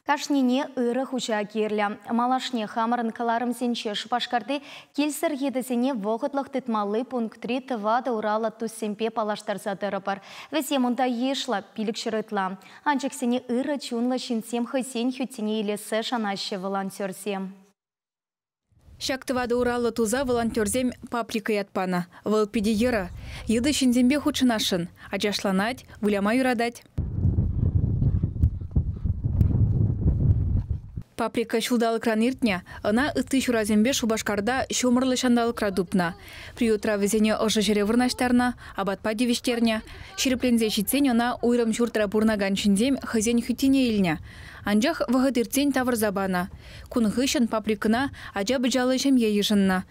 Кашнине ырӑ хуҫа кирлӗ. Малашне хамӑрӑн кӑларӑмсенче Шупашкарти килсӗр йытӑсене вӑхӑтлӑх тытмалли пунктри тӑватӑ ураллӑ туссемпе паллаштарса тӑрӑпӑр. Вӗсем унта йышлӑ, пилӗкҫӗр ытла. Анчӑксене ырӑ чунлӑ ҫынсем хӑйсен хӳттине илессе шанаҫҫӗ волонтерсем. Ҫак тӑватӑ ураллӑ туса волонтерсем паприка ят панӑ. Вӑл питӗ йӑрӑ. Йытӑ ҫынсемпе хутшӑнасшӑн, ачашланать, выляма юратать. Паприка ҫулталӑкран иртнӗ. Ӑна ытти ҫурасемпе Шупашкарта ҫумӑрлӑ ҫанталӑкра тупнӑ. Приютра вӗсене ӑшӑ ҫӗре вырнаҫтарнӑ, апатпа тивӗҫтернӗ. Ҫирӗпленсе ҫитсен ӑна уйрӑм ҫуртра пурӑнакан ҫынсем хӑйсен хӳттине илнӗ. Анчах вӑхӑт иртсен тавӑрса панӑ. Кун хыҫҫӑн фабрикӑна ача-пӑчаллӑ ҫемье йышӑннӑ.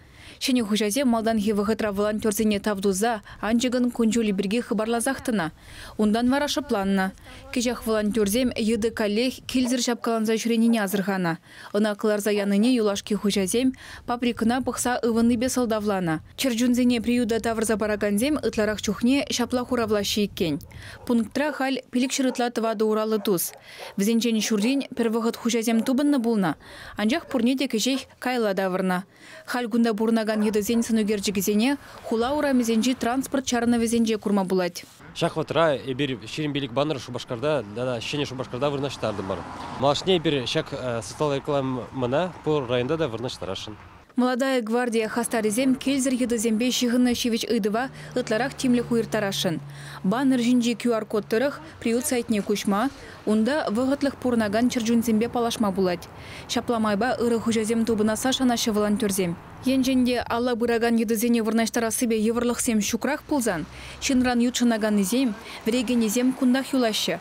Ҫӗнӗ хуҫасем малтанхи вӑхӑтра волонтерсене тав туса анчӑкӑн кун-ҫулӗ пирки хыпарласах тӑнӑ. Унтан вара шӑпланнӑ. Кӗҫех волонтерсем йытӑ каллех килсӗр ҫапкаланса ҫӳренине асӑрханӑ. Ӑна кӑларса янине юлашки хуҫасем фабрикӑна пӑхса ывӑннипе сӑлтавланӑ. Чӗрчунсене приюта тавӑрса паракансем ытларах чухне ҫапла хуравлаҫҫӗ иккен, пунктра халь пилӗкҫӗр ытла тӑватӑ ураллӑ тус, Вӗсенчен ҫуррин пӗр вӑхӑт хуҫасем тупӑннӑ пулнӑ, анчах пурне те кӗҫех каялла тавӑрнӑ. Халь кунта пурӑнакан йытӑсен сӑнӳкерчӗкӗсене хула урамӗсенчи транспорт чарӑнӑвӗсенче курма пулать. Ҫак вӑхӑтра эпир Ҫирӗм пилӗк баннер Шупашкарта тата Ҫӗнӗ Шупашкарта вырнаҫтартӑмӑр. Малашне эпир ҫак социаллӑ рекламӑна пур районта та вырнаҫтарасшӑн. Молодая гвардия хастарӗсем килсӗр йытӑсемпе ҫыхӑннӑ ҫивӗч ыйтӑва ытларах тимлӗх уйӑрттарасшӑн. Баннер ҫинчи QR-код тӑрӑх приют сайтне куҫма, унта вӑхӑтлӑх пурӑнакан чӗрчунсемпе паллашма пулать. Ҫапла майпа ырӑ хуҫасем тупӑнасса шанаҫҫӗ волонтерсем. Енчен те алла пыракан йытӑсене вырнаҫтарассипе йывӑрлӑхсем ҫукрах пулсан, ҫынран ютшӑнаканнисем, вӗрекенӗсем кунтах юлаҫҫӗ.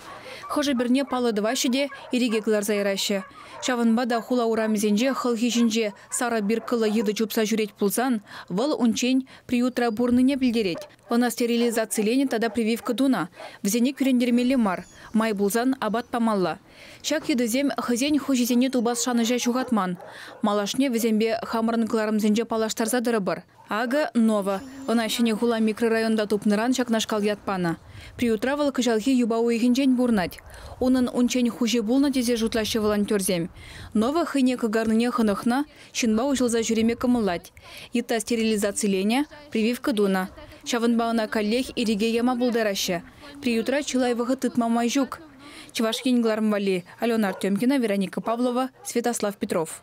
Хӑшӗ-пӗрне паллӑ тӑваҫҫӗ те ирӗке кӑларса яраҫҫӗ, Ҫавӑнпа та хула урамӗсенче хӑлхи ҫинче сарӑ биркӑллӑ йытӑ чупса ҫӳрет пулсан, вӑл унччен приютра пурӑннине пӗлтерет. Ӑна стерилизациленӗ тата прививка тунӑ, вӗсене кӳрентермелле мар, май пулсан апат памалла. Ҫак йытӑсем хӑйсен хуҫисене тупас шанӑҫа ҫухатман. Малашне вӗсемпе хамӑрӑн кӑларӑмсенче паллаштарса тӑрӑпӑр. Акӑ, Нова. Ӑна Ҫӗнӗ хула микрорайонта тупнӑран ҫакнашкал ят панӑ. Приютра вӑл кӑҫалхи юпа уйӑхӗнчен пурӑнать. Унӑн унччен хуҫи пулнӑ тесе шутлаҫҫӗ волонтерсем. Нова хӑйне кӑкарнине хӑнӑхнӑ, ҫынпа уҫӑлса ҫӳреме кӑмӑллать. Йытта стерилизациленӗ, прививка тунӑ. Ҫавӑнпа ӑна каллех ирӗке яма пултараҫҫӗ. Приютра чылай вӑхӑт тытма май ҫук. Чӑваш Ен кӑларӑм валли, Алена Артемкина, Вероника Павлова, Святослав Петров.